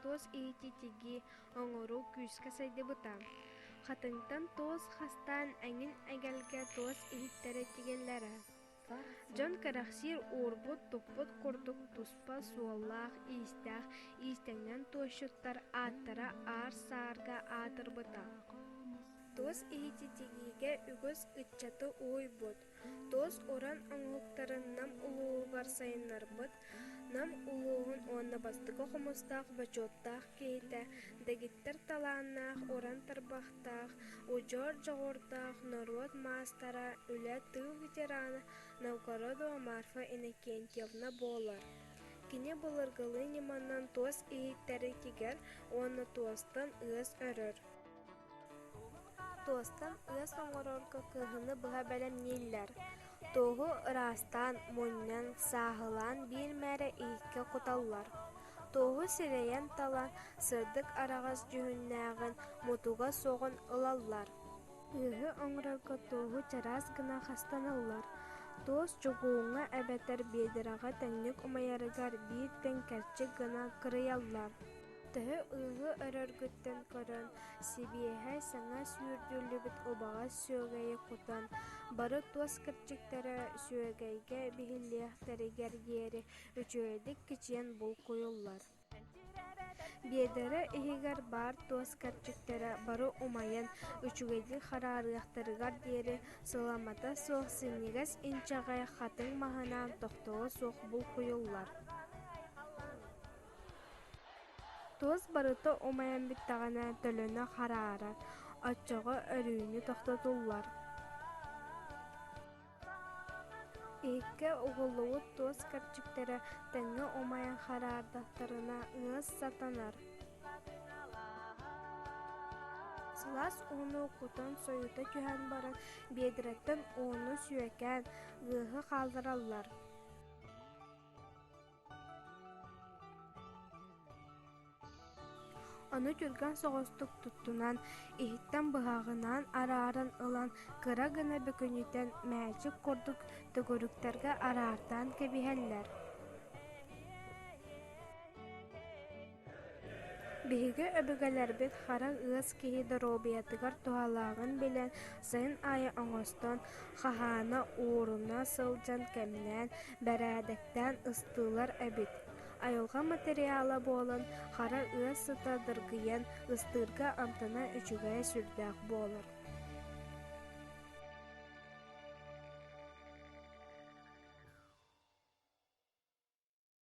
туос иһити-тиги оҥоруу күүскэ сайдыбыта. Хатыҥтан туос хастаан эҥин эгэлгэ туос иһиттэрэ тигиллэрэ. Дьон кэрэхсиир уурбут-туппут курдук туспа суоллаах-иистээх иистэнньэн туойщуттар ааттара аар-саарга аатырбыта. Туос иһити тигиигэ үгүс ыччаты уһуйбут, Туос уран омуктарын Нам улууһугар сайыннарбыт Нам улууһун уонна бастакы хомустаах бочуоттаах киһитэ, дэгиттэр талааннаах уран тарбахтаах, удьуор дьоҕурдаах норуот маастара, үлэ тыыл ветерана Новгородова Марфа Иннокентьевна буолар. Кини былыргылыы ньыманан туос иһиттэри тигэр уонна туостан ыас өрөр. Туостан ыас оҥорорго кыһыны быһа бэлэмнииллэр. Туоһу ыраастаан, мунньан, сааһылаан биир мээрэ иһиккэ куталлар. Туоһу сирэйин талан, сырдык араҕас дьүһүннээҕин, мутуга суоҕун ылаллар. Ыаһы оҥорорго туоһу чараас гына хастаналлар. Туос чугууҥҥа эбэтэр биэдэрэҕэ тэҥник умайарыгар биир тэҥкэрчик гына кырыйаллар. Төһө ыйга өрөргүттэн көрөн, сибиэһэ саҥа сүүрдүллүбүт убаҕас сүөгэйи кутан, бары туос кырдьыктара сүөгэйгэ биһиллиэхтэригэр диэри үчүгэйдик кичийэн булкуйуллар. Биэдэрэ иһигэр баар туос кэрчиктэрэ бары умайан, үчүгэйдик хараарыахтарыгар диэри сыламата суох синньигэс инчэҕэй хатыҥ маһынаан тохтоло суох булкуйуллар. туос барыта умайан бүттэҕинэ төлөнө хараарар оччоҕо өрүүнү тохтотуллар иһиккэ угуллубут туос кэрчиктэрэ тэҥҥэ умайан хараардахтарына ыас сатанар сылаас ууну кутан сойута түһэн баран биэдэрэттэн ууну сүөкээн ыаһы хааллараллар Ону түргэн соҕустук туттунан, иһиттэн быһаҕынан арааран ылан, кыра гына бөкүнүтэн мээчик курдук төгүрүктэргэ араартаан кэбиһэллэр Биһиги өбүгэлэрбит харах ыас киһи доруобуйатыгар туһалааҕын билэн, сайын аайы оҥостон, хаһаана, ууруна сылдьан кэмнээн, бэрээдэктээн ыстыылар эбит. Айылҕа материала буолан, хара ыас сыта дыргыйан, ыстыырга амтана үчүгэйэ сүрдээх буолар.